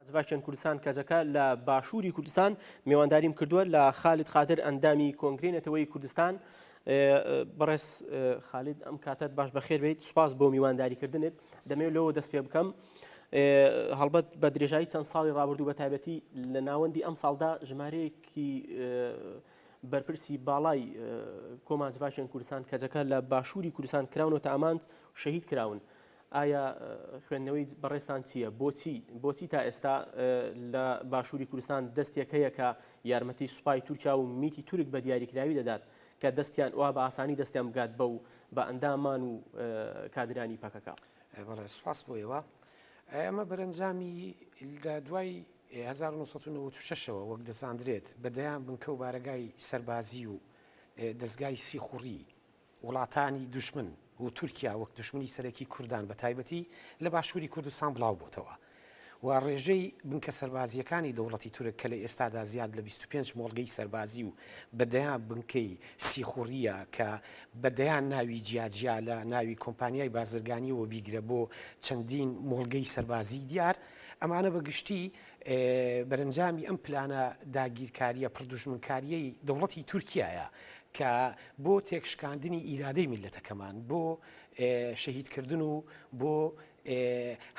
ئەزڤاکێن کوردستان کەجەکە لە باشووری کوردستان میوانداریم کردووە لە خالید قادر ئەندامی کۆنگری نەتەوەی کوردستان بەڕێز خالید ئەم کاتت باش بەخێر بیت سوپاس بۆ میوانداریکردنت دەمێ لەوە دەست پێ بکەم هەڵبەت بە درێژایی چەند ساڵی ڕابردوو بە تایبەتی لە ناوەندی ئەم ساڵدا ژمارەیەکی بەرپرسی باڵای کۆمانجڤاکێن کوردستان کەجەکە لە باشووری کوردستان کراونەوە تا ئامانج شەهید کراون. ئایا خوێندنەوەی بەڕێزتان چییە؟ بۆچی بۆچی تا ئێستا لە باشووری کوردستان دەستێک هەیە کە یارمەتی سوپای تورکیا و میتی تورک بە دیاریکراوی دەدات کە دەستیان وا بە ئاسانی دەستیان بگات بەو بە ئەندامان و کادرانی پەکەکە؟ بەڵێ سوپاس بۆ ئێوە. ئەمە بەرەنجامی لە دوای 1996ەوە وەک دەزاندرێت بە دەیان بنکە و بارەگای سەربازی و دەستگای سیخوڕی وڵاتانی دوژمن و تورکیا وەک دوژمنی سەرەکی کوردان بە تایبەتی لە باشووری کوردستان بڵاو بۆتەوە و ڕێژەی بنکە سەربازییەکانی دەوڵەتی تورک کە لە ئێستادا زیاد لە بیست و پێنج مۆڵگەی سەربازی و بە دەیان بنکەی سیخوڕییە کە بە دەیان ناوی جیاجیا لە ناوی کۆمپانیای بازرگانییەوە بیگرە بۆ چەندین مۆڵگەی سەربازیی دیار ئەمانە بە گشتی بەرەنجامی ئەم پلانە داگیرکارییە پڕ دوژمنکارییەی دەوڵەتی تورکیایە کە بۆ تێکشکاندنی ئیرادەی میللەتەکەمان، بۆ شەهیدکردن و بۆ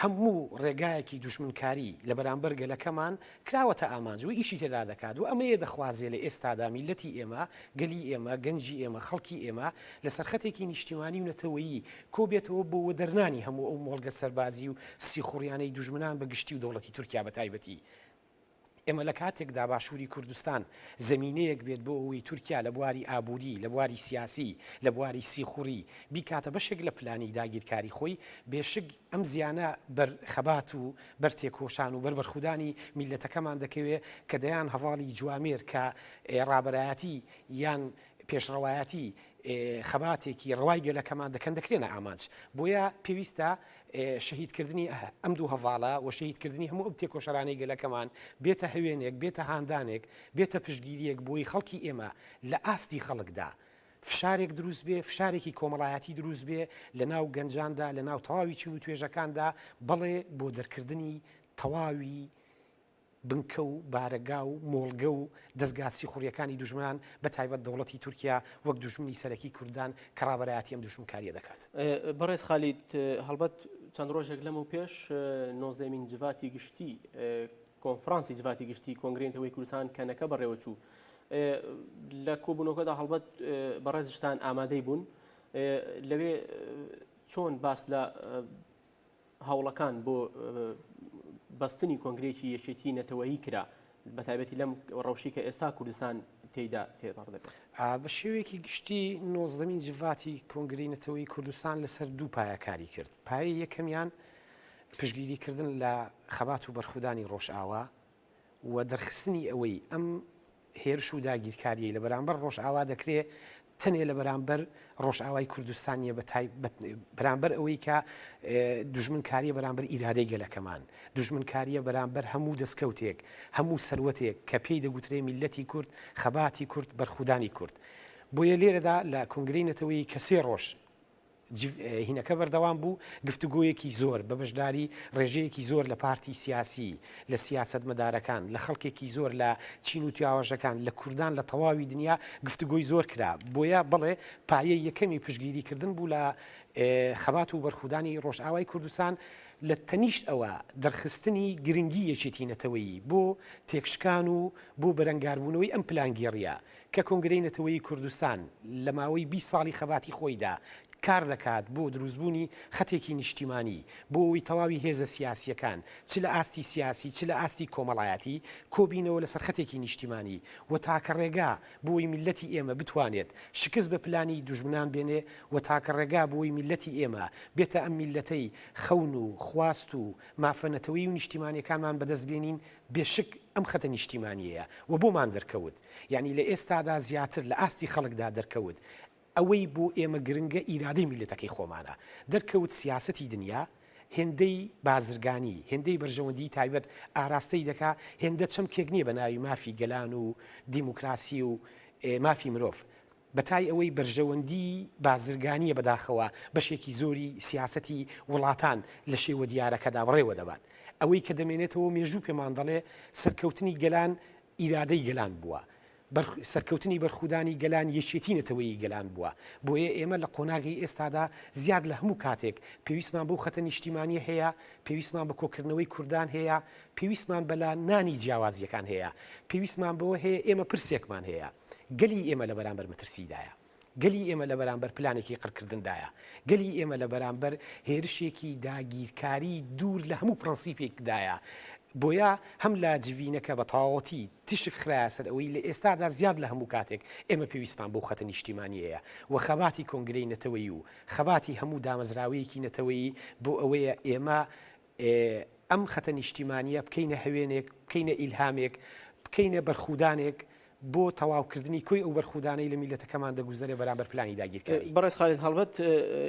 هەموو ڕێگایەکی دوژمنکاری لە بەرامبەر گەلەکەمان کراوەتە ئامانج و ئیشی تێدا دەکات و ئەمەیە دەخوازێ لە ئێستادا میللەتی ئێمە، گەلی ئێمە، گەنجی ئێمە، خەڵکی ئێمە لە سەرخەتێکی نیشتیمانی و نەتەوەیی کۆبێتەوە بۆ وەدەرنانی هەموو ئەو مۆڵگە سەربازی و سیخوڕیانەی دوژمنان بە گشتی و دەوڵەتی تورکیا بە تایبەتی. ئێمە لە کاتێکدا باشووری کوردستان زەمینەیەک بێت بۆ ئەوەی تورکیا لە بواری ئابووری، لە بواری سیاسی، لە بواری سیخوڕی بیکاتە بەشێک لە پلانی داگیرکاری خۆی، بێ شک ئەم زیانە بەر خەبات و بەر تێکۆشان و بەر بەرخودانی میللەتەکەمان دەکەوێت کە دەیان هەڤاڵی جوامێر کە ڕابەرایەتی یان پێشڕەوایەتی خەباتێکی ڕەوای گەلەکەمان دەکەن دەکرێنە ئامانج بۆیە پێویستە شەهیدکردنی ئەم دوو هەواڵە و شەهیدکردنی هەموو ئەو تێکۆشەرانی گەلەکەمان بێتە هەوێنێک بێتە هاندانێک بێتە پشگیریەک بۆی خەڵکی ئێمە لە ئاستی خەڵکدا. فشارێک دروست بێ فشارێکی کۆمەڵایەتی دروست بێ لە ناو گەنجاندا لە ناو تەواوی چی و توێژەکاندا بەڵێ بۆ دەرکردنی تەواوی بنکە و بارەگا و مۆڵگە و دەزگا سیخوڕیەکانی دوژمنان بە تایبەت دەوڵەتی تورکیا وەک دوژمنی سەرەکی کوردان کە ڕابەرایەتی ئەم دوژمنکاریە دەکات. بەڕێز خالید، هەڵبەت چەند ڕۆژێک لەمەو پێش نۆزدە مین جڤاتی گشتی کۆنفرانسی جڤاتی گشتی کۆنگرەی نەتەوەی کوردستان کەنەکە بەڕێوە چوو. لە کۆبوونەوەکەدا هەڵبەت بەڕێزشتان ئامادەی بوون. لەوێ چۆن باس لە هەوڵەکان بۆ بەستنی کۆنگرێکی یەکێتی نەتەوەیی کرا بەتابەتی لەم ڕەوشی کە ئێستا کوردستان تێدا تێپەڕ دەبێت بە شێوەیەکی گشتی نۆزدەمین جڤاتی کۆنگری نەتەوەی کوردستان لەسەر دوو پایەکاری کرد پای یەکەمیان پشگیریکردن لە خەبات و بەرخودانی ڕۆژئاوا و دەرخستنی ئەوەی ئەم هێرش و داگیرکاریی لە بەرامبەر ڕۆژئاوا دەکرێ تەنێ لە بەرامبەر ڕۆژئاوای کوردستانیە بە بەرامبەر ئەوەی کە دژمنکاریە بەرامبەر ئیرادەی گەلەکەمان دژمنکاریە بەرامبەر هەموو دەستکەوتێک هەموو سەروەتێک کە پێی دەگوترێ میلەتی کورد خەباتی کورد بەرخودانی کورد بۆیە لێرەدا لە کنگرەی نەتەوەی کەسێ ڕۆژ جڤهینەکە بەردەوام بوو، گفتوگۆیەکی زۆر بە بەشداری ڕێژەیەکی زۆر لە پارتی سیاسی، لە سیاسەتمەدارەکان، لە خەڵکێکی زۆر لە چین و تواوەژەکان، لە کوردان لە تەواوی دنیا گفتوگۆی زۆر کرا، بۆیە بەڵێ پایەی یەکەمی پشتگیریکردن بوو لە خەبات و بەرخودانی ڕۆژئاوای کوردستان، لە تەنیشت ئەوە دەرخستنی گرنگی یەکێتی نەتەوەیی بۆ تێکشکان و بۆ بەرەنگاربوونەوەی ئەم پلانگێڕییە کە کۆنگرەی نەتەوەیی کوردستان لە ماوەی بیست ساڵی خەباتی خۆیدا کار دەکات بۆ دروستبوونی خەتێکی نیشتیمانی بۆ ئەوەی تەواوی هێزە سیاسییەکان چ لە ئاستی سیاسی چ لە ئاستی کۆمەڵایەتی کۆبینەوە لەسەر خەتێکی نیشتیمانی و تاکە ڕێگا بۆی میللەتی ئێمە بتوانێت شکست بە پلانی دوژمنان بێنێ و تاکە ڕێگا بۆی میللەتی ئێمە بێتە ئەم میللەتەی خەون و خواست و مافە نەتەوەیی و نیشتیمانیەکانمان بەدەست بێنین بێ شک ئەم خەتە نیشتیمانیەیە و بۆمان دەرکەوت. یانی لە ئێستادا زیاتر لە ئاستی خەڵکدا دەرکەوت ئەوەی بۆ ئێمە گرنگە ئیرادەی میللەتەکەی خۆمانە، دەرکەوت سیاسەتی دنیا هێندەی بازرگانی، هێندەی بەرژەوەندیی تایبەت ئاراستەی دەکا، هێندە چەمکێک نییە بە ناوی مافی گەلان و دیموکراسی و مافی مرۆڤ، بە تای ئەوەی بەرژەوەندیی بازرگانییە بەداخەوە بەشێکی زۆری سیاسەتی وڵاتان لە شێوە دیارەکەدا بەڕێوە دەبات. ئەوەی کە دەمێنێتەوە مێژوو پێمان دەڵێ سەرکەوتنی گەلان ئیرادەی گەلان بووە، سەرکەوتنی بەرخودانی گەلان یەکێتی نەتەوەیی گەلان بووە، بۆیە ئێمە لە قۆناغی ئێستادا زیاد لە هەموو کاتێک پێویستمان بەو خەتە نیشتیمانیە هەیە، پێویستمان بە کۆکردنەوەی کوردان هەیە، پێویستمان بە لا نانی جیاوازیەکان هەیە، پێویستمان بەوە هەیە، ئێمە پرسێکمان هەیە، گەلی ئێمە لە بەرامبەر مەترسیدایە. گەلی ئێمە لە بەرامبەر پلانێکی قڕکردندایە. گەلی ئێمە لە بەرامبەر هێرشێکی داگیرکاری دوور لە هەموو پڕەنسیپێکدایە. بۆیە هەم لە جڤینەکە بە تەواوەتی تیشک خرایە سەر ئەوەی لە ئێستادا زیاد لە هەموو کاتێک ئێمە پێویستمان بەو خەتە نیشتیمانییەیە و خەباتی کۆنگرەی نەتەوەیی و خەباتی هەموو دامەزراوەیەکی نەتەوەیی بۆ ئەوەیە ئێمە ئێ ئەم خەتە نیشتیمانییە بکەینە هەوێنێک، بکەینە ئیلهامێک، بکەینە بەرخودانێک بۆ تەواوکردنی کۆی ئەو بەرخودانەی لە میللەتەکەمان دەگوزەرێ بەرامبەر پلانی داگیرکاری. بەڕێز خالید هەڵبەت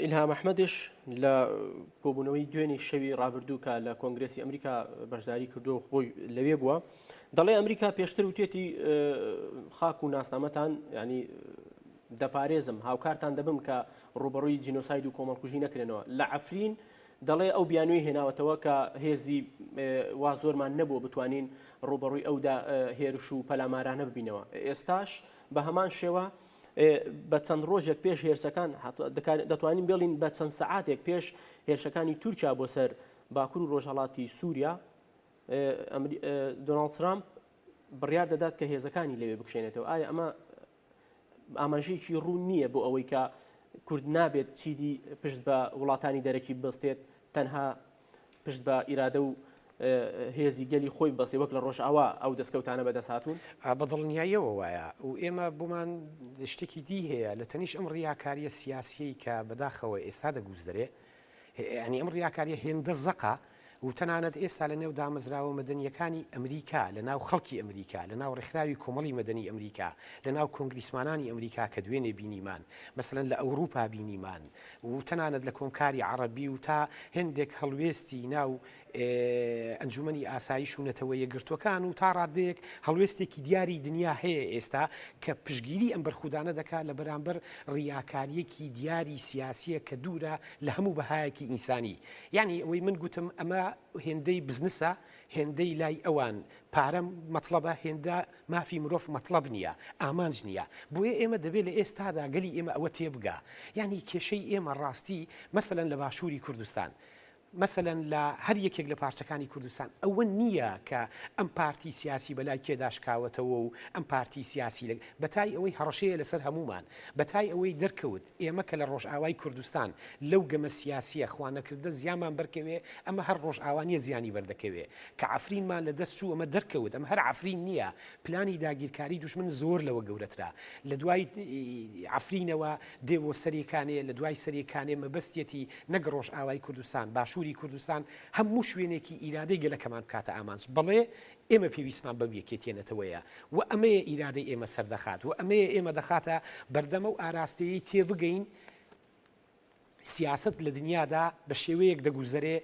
ئیلهام ئەحمەدیش لە کۆبوونەوەی دوێنێی شەوی ڕابردوو کە لە کۆنگرێسی ئەمریکا بەشداری کردووە و خۆی لەوێ بووە، دەڵێ ئەمریکا پێشتر وتێتی خاک و ناسنامەتان یانی دەپارێزم، هاوکارتان دەبم کە ڕووبەڕووی جینۆساید و کۆمەڵکوژی نەکرێنەوە. لە عەفرین دەڵێ ئەو بیانووی هێناوەتەوە کە هێزی وا زۆرمان نەبووە بتوانین ڕووبەڕووی ئەو هێرش و پەلامارانە ببینەوە ئێستاش بە هەمان شێوە بە چەند ڕۆژێک پێش هێرشەکان دەتوانین بێڵین بە چەند سعاتێک پێش هێرشەکانی تورکیا بۆ سەر باکوور و ڕۆژهڵاتی سووریا دۆناڵد ترامپ بڕیار دەدات کە هێزەکانی لەوێ بکشێنێتەوە ئایا ئەمە ئاماژەیەکی ڕوون نییە بۆ ئەوەی کە کورد نابێت چیدی پشت بە وڵاتانی دەرەکی بستێت تەنها پشت بە ئیرادە و هێزی گەلی خۆی بەستی وەک لە ڕۆژئاوا ئەو دەستکەوتانە بەدەست هاتوون بە دڵنیاییەوە وایە و ئێمە بۆمان شتێکی دی هەیە لە تەنیش ئەم ڕیاکاریە سیاسیی کە بەداخەوە ئێستا دەگوزدرێ یەعنی ئەم ڕیاکاریە هێندە زەقە و تەنانەت ئێستا لە نێو دامەزراوە مەدەنیەکانی ئەمریکا، لە ناو خەڵکی ئەمریکا، لە ناو ڕێکخراوی کۆمەڵی مەدەنی ئەمریکا، لە ناو کۆنگریسمانانی ئەمریکا کە دوێنێ بینیمان، مەسەلەن لە ئەوروپا بینیمان و تەنانەت لە کۆمکاری عەڕەبی و تا هێندێک هەڵوێستی ناو ئەنجومەنی ئاسایش و نەتەوە یەکگرتووەکان و تا ڕاددەیەک هەڵوێستێکی دیاری دنیا هەیە ئێستا کە پشگیری ئەم بەرخودانە دەکات لە بەرامبەر ڕیاکاریەکی دیاری سیاسیە کە دوورە لە هەموو بەهایەکی ئینسانی یعنی ئەوەی من گوتم ئەمە هێندەی بزنسە هێندەی لای ئەوان پارە مەطلبە هێندە مافی مرۆڤ مەطلب نییە ئامانج نییە بۆیە ئێمە دەبێت لە ئێستادا گەلی ئێمە ئەوە تێبگا یعنی کێشەی ئێمە ڕاستی مەسەن لە باشووری کوردستان مەسەلەن لە هەر یەکێک لە پارچەکانی کوردستان ئەوە نییە کە ئەم پارتی سیاسی بە لای کێدا شکاوەتەوە و ئەم پارتی سیاسی لە بەتای ئەوەی هەڕەشەیە لەسەر هەموومان، بەتای ئەوەی دەرکەوت ئێمە کە لە ڕۆژئاوای کوردستان لەو گەمە سیاسییە خوانەکردە زیانمان بەرکەوێ ئەمە هەر ڕۆژئاوا نییە زیانی بەردەکەوێ کە عەفرینمان لە دەست چوو ئەمە دەرکەوت ئەمە هەر عەفرین نییە پلانی داگیرکاری دوژمن زۆر لەوە گەورەترە لە دوای عەفرینەوە دێ بۆ سەری کانێ لە دوای سەری کانێ مەبەستیەتی نەک ڕۆژئاوای کوردستان باشووری کوردستان هەموو شوێنێکی ئیرادەی گەلەکەمان بکاتە ئامانج بەڵێ ئێمە پێویستمان بەو یەکێتیە نەتەوەیە و ئەمەیە ئیرادەی ئێمە سەردەخات و ئەمەیە ئێمە دەخاتە بەردەم ئەو ئاراستەیەی تێبگەین سیاسەت لە دنیادا بە شێوەیەک دەگوزەرێ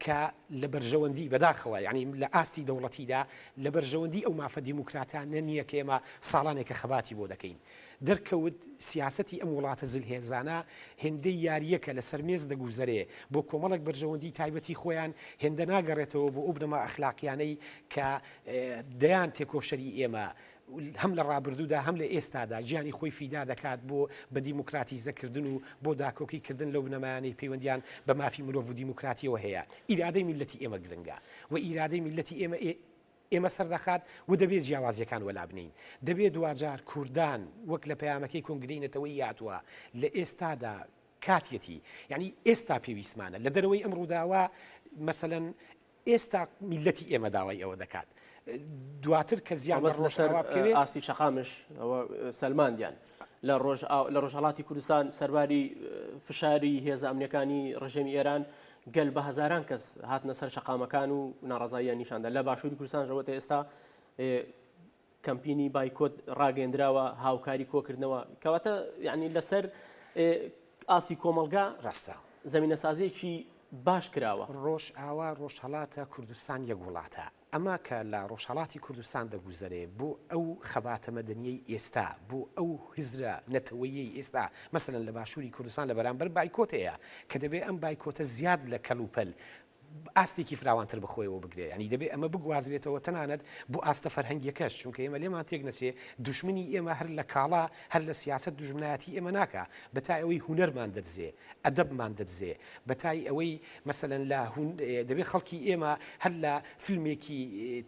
کە لە بەرژەوەندی، بەداخەوە یانی لە ئاستی دەوڵەتیدا، لە بەرژەوەندی ئەو مافە دیموکراتانە نییە کە ئێمە ساڵانێکە خەباتی بۆ دەکەین. دەرکەوت سیاسەتی ئەم وڵاتە زلهێزانە هێندەی یارییەکە لەسەر مێز دەگوزەرێ بۆ کۆمەڵێک بەرژەوەندی تایبەتی خۆیان، هێندە ناگەڕێتەوە بۆ ئەو بنەما ئەخلاقییانەی کە دەیان تێکۆشەری ئێمە، هەم لە ڕابردوودا هەم لە ئێستادا گیانی خۆی فیدا دەکات بۆ بە دیموکراتیزەکردن و بۆ داکۆکی کردن لەو بنەمایانەی پەیوەندیان بە مافی مرۆڤ و دیموکراتیەوە هەیە ئیرادەی میلەتی ئێمە گرنگە و ئیرادەی میلەتی ئێمە ئێمە سەردەخات و دەبێت جیاوازیەکان وەلابنین دەبێت دواجار کوردان وەک لە پەیامەکەی کۆنگرەی نەتەوەی یاتوە لە ئێستادا کاتیەتی یعنی ئێستا پێویستمانە لە دەرەوەی ئەم ڕووداوە مەسەەن ئێستا میللەتی ئێمە داوای ئەوە دەکات دواتر کە زیان بە ڕۆژەوا بکەوێت ئاستی شەقامش ئەوە سەلماندیان لە ڕۆژ لە ڕۆژهڵاتی کوردستان سەرباری فشاری هێزە ئەمنیەکانی ڕژێمی ئێران گەل بە هزاران کەس هاتنە سەر شەقامەکان و ناڕزاییان نیشاندا لە باشووری کوردستانەوە تا ئێستا کەمپینی بایکۆت ڕاگەندراوە هاوکاری کۆکردنەوە کەواتە یعنی لەسەر ئاستی کۆمەلگا ڕاستە زمینە سازیەکی باش کراوە ڕۆژ ئاوا ڕۆژهڵاتە کوردستان یەک وڵاتە ئەما کە لە ڕۆژهڵاتی کوردستان دەگوزەرێ بۆ ئەو خەباتە مەدەنیەی ئێستا بۆ ئەو هزرە نەتەوەیەی ئێستا مەسەن لە باشووری کوردستان لە بەرامبەر بایکۆتەیە کە دەبێ ئەم بایکۆتە زیاد لە کەلوپەل ئاستێکی فراوانتر بە خۆیەوە بگرێ یانی دەبێ ئەمە بگوازرێتەوە تەنانەت بۆ ئاستە فەرهەنگیەکەش چونکە ئێمە لێمان تێک نەچێ دوشمنی ئێمە هەر لە کاڵا هەر لە سیاسەت دوژمنایەتی ئێمە ناکا بە تای ئەوەی هونەرمان دەدزێ ئەدەبمان دەدزێ بە تای ئەوەی مەسەلەن لە دەبێ خەڵکی ئێمە هەر لە فیلمێکی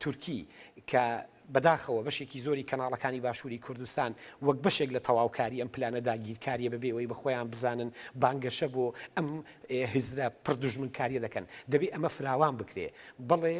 تورکی کە بەداخەوە بەشێکی زۆری کەناڵەکانی باشووری کوردستان وەک بەشێک لە تەواوکاری ئەم پلانە داگیرکاریە بەبێ ئەوەی بەخۆیان بزانن بانگەشە بۆ ئەم هزرە پڕ دوژمنکاریە دەکەن. دەبێ ئەمە فراوان بکرێ. بەڵێ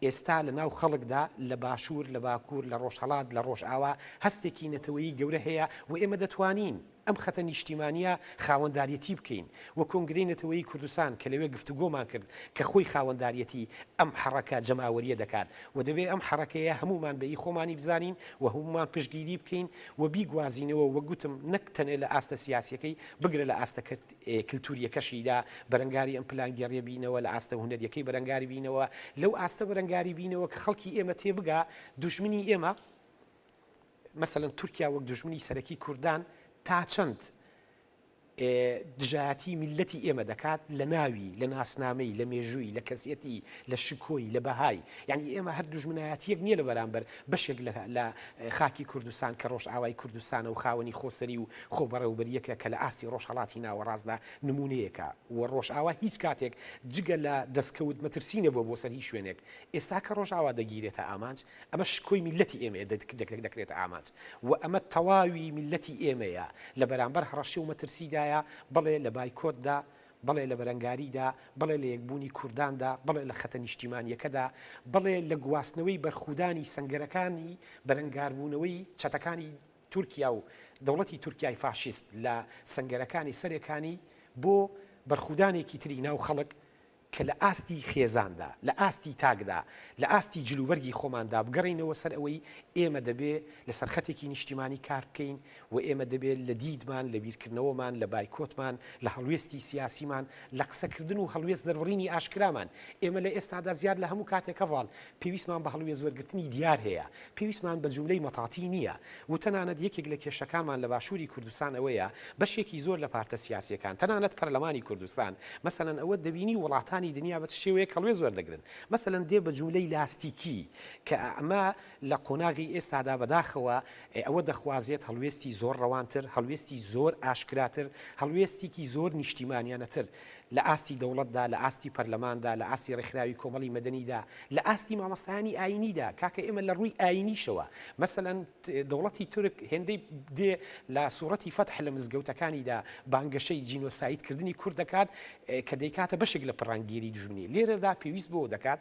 ئێستا لە ناو خەڵکدا لە باشوور، لە باکوور، لە ڕۆژهەڵات، لە ڕۆژئاوا هەستێکی نەتەوەیی گەورە هەیە و ئێمە دەتوانین، ئەم خەتە نیشتیمانییە خاوەنداریەتی بکەین و کۆنگرەی نەتەوەیی کوردستان کە لەوێ گفتوگۆمان کرد کە خۆی خاوەنداریەتی ئەم حەڕەکە جەماوەرییە دەکات و دەبێ ئەم حەڕەکەیە هەموومان بە ی خۆمانی بزانین و هەموومان پشتگیری بکەین و بیگوازینەوە وەک گوتم نەک تەنێ لە ئاستە سیاسیەکەی بگرە لە ئاستە کلتوریەکەشیدا بەرەنگاری ئەم پلانگێڕیە بینەوە لە ئاستە هونەریەکەی بەرەنگاری بینەوە لەو ئاستە بەرەنگاری بینەوە کە خەڵکی ئێمە تێبگا دوژمنی ئێمە مەسەلەن تورکیا وەک دوژمنی سەرەکی کوردان تا چەند دژایەتی میلەتی ئێمە دەکات لە ناوی لە ناسنامەی لە مێژووی لە کەسیەتی لە شکۆی لە بەهای یعنی ئێمە هەر دوژمنایەتیەک نییە لە بەرامبەر بەشێک لە خاکی کوردستان کە ڕۆژ ئاوای کوردستانە و خاوەنی خۆسەری و خۆبەڕێوبەریەکە کە لە ئاستی ڕۆژهڵاتی ناوەڕاستدا نمونەیەکە و ڕۆژ ئاوا هیچ کاتێک جگە لە دەستکەوت مەترسی نەبووە بۆ سەر هیچ شوێنێک ئێستا کە ڕۆژ ئاوا دەگیرێتە ئامانج ئەمە شکۆی میللەتی ئێمەیە دەکرێتە ئامانج و ئەمە تەواوی میللەتی ئێمەیە لە بەرامبەر هەڕەشە و مەترسیدایە بەڵێ لە بایکۆتدا بەڵێ لە بەرەنگاریدا بەڵێ لە یەکبوونی کورداندا بەڵێ لە خەتە نیشتیمانیەکەدا بەڵێ لە گواستنەوەی بەرخودانی سنگەرەکانی بەرەنگاربوونەوەی چەتەکانی تورکیا و دەوڵەتی تورکای فاشیست لە سنگەرەکانی سەرەکانی بۆ بەرخودانێکی تری ناو خەڵک کە لە ئاستی خێزاندا، لە ئاستی تاکدا، لە ئاستی جلوبەرگی خۆماندا بگەڕێینەوە سەر ئەوەی ئێمە دەبێ لە سەر خەتێکی نیشتیمانی کار بکەین و ئێمە دەبێ لە دیدمان، لە بیرکردنەوەمان، لە بایکۆتمان، لە هەڵوێستی سیاسیمان، لە قسەکردن و هەڵوێست دەربڕینی ئاشکرامان ئێمە لە ئێستادا زیاد لە هەموو کاتێکەڤان پێویستمان بە هەڵوێزوەرگرتنی دیار هەیە، پێویستمان بە جوملەی مەتاتی نییە و تەنانەت یەکێک لە کێشەکانمان لە باشووری کوردستان ئەوەیە بەشێکی زۆر لە پارتە سیاسییەکان تەنانەت پەرلەمانی کوردستان مەسەلەن ئەوەت دەبینی وڵاتانی دنیا بە چ شێوەیەک هەڵوێز وەردەگرن مەسەلەن دێ بە جوملەی لاستیکی کە ئەمە لە قۆناغی ئێستادا بەداخەوە ئەوە دەخوازێت هەڵوێستی زۆر ڕەوانتر، هەڵوێستی زۆر ئاشکراتر، هەڵوێستێکی زۆر نیشتیمانیانەتر لە ئاستی دەوڵەتدا، لە ئاستی پەرلەماندا، لە ئاستی ڕێکخراوی کۆمەڵی مەدەنیدا، لە ئاستی مامۆستایانی ئایینیدا، کاکە ئێمە لە ڕووی ئایینیشەوە، مەسەلەن دەوڵەتی تورک هێندەی دێ لە سوڕەتی فەتح لە مزگەوتەکانیدا بانگەشەی جینۆساید کردنی کورد دەکات کە دەیکاتە بەشێک لە پڕانگێری دوژمنی، لێرەدا پێویست بەوە دەکات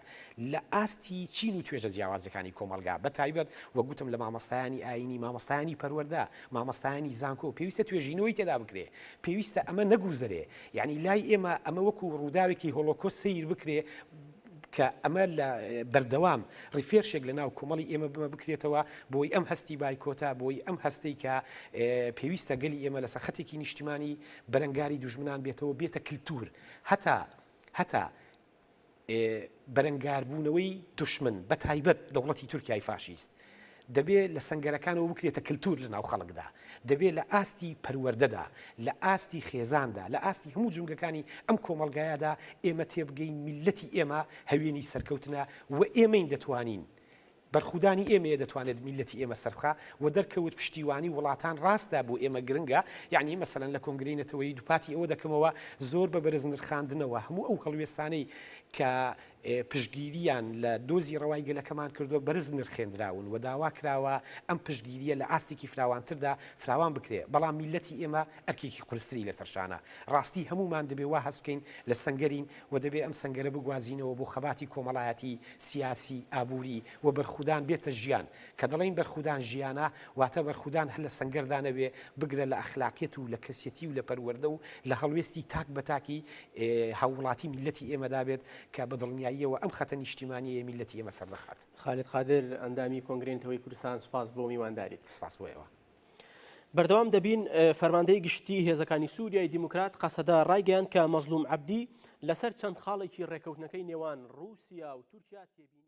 لە ئاستی چین و توێژە جیاوازەکانی کۆمەڵگا، بە تایبەت وەک گوتم لە مامۆستایانی ئایینی، مامۆستایانی پەروەردە، مامۆستایانی زانکۆ، پێویستە توێژینەوەی تێدا بکرێ، پێویستە ئەمە نەگووزەرێ، یانی لای ئێمە ئەمە وەکو ڕووداوێکی هۆڵۆکۆست سەیر بکرێ، کە ئەمە لە بەردەوام ڕیفێرشێک لە ناو کۆمەڵی ئێمە بمە بکرێتەوە بۆی ئەم هەستی بایکۆتە بۆی ئەم هەستەی کە پێویستە گەلی ئێمە لەسەر خەتێکی نیشتیمانی بەرەنگاری دوژمنان بێتەوە بێتە کلتور هەتا هەتا بەرەنگاربوونەوەی دوشمن بە تایبەت دەوڵەتی تورکیای فاشیست دەبێ لە سەنگەرەکانەوە بکرێتە کللتور لە ناو خەڵکدا دەبێ لە ئاستی پەروەەردەدا لە ئاستی خێزاندا لە ئاستی هەموو جونگەکانی ئەم کۆمەلگایادا ئێمە تێبگەین میلەتی ئێمە هەوێنی سەرکەوتنە و ئێمەین دەتوانین بەرخودانی ئێمەیە دەتوانێت میللەتی ئێمە سەربخا و دەرکەوت پشتیوانی وڵاتان ڕاستە بۆ ئێمە گرنگە یانی مەسەلەن لە کۆنگرەی نەتەوەیی دوپاتی ئەوە دەکەمەوە زۆر بە بەرز نرخاندنەوە هەموو ئەو هەڵوێستانەی کە پشتگیریان لە دۆزی ڕەوای گەلەکەمان کردوە بەرز نرخێندراون و داوا کراوە ئەم پشتگیریە لە ئاستێکی فراوانتردا فراوان بکرێ بەڵام میللەتی ئێمە ئەرکێکی قورستری لەسەر شانە ڕاستی هەموومان دەبێ وا هەست بکەین لە سەنگەرین و دەبێ ئەم سەنگەرە بگوازینەوە بۆ خەباتی کۆمەڵایەتی، سیاسی، ئابووری و بەرخودان بێتە ژیان. کە دەڵێین بەرخودان ژیانە، واتە بەرخودان هەر لە سەنگەردا نەبێ، بگرە لە ئەخلاقیەت و لە کەسیەتی و لە پەروەردە و لە هەڵوێستی تاک بە تاکی هاووڵاتی میللەتی ئێمەدا بێت کە بە دڵنیاییەوە ئەم خەتە نیشتیمانیەیە میللەتی ئێمە سەردەخات. خالید قادر، ئەندامی کۆنگرەی نەتەوەیی کوردستان، سوپاس بۆ میوانداریت. سپاس بۆ ئێوە. بەردەوام دەبین فەرماندەی گشتی هێزەکانی سووریای دیموکرات قەسەدە ڕایگەیان کە مەزلوم عبدی لەسەر چەند خاڵێکی ڕێکەوتنەکەی نێوان رووسیا و تورکیا تێبینی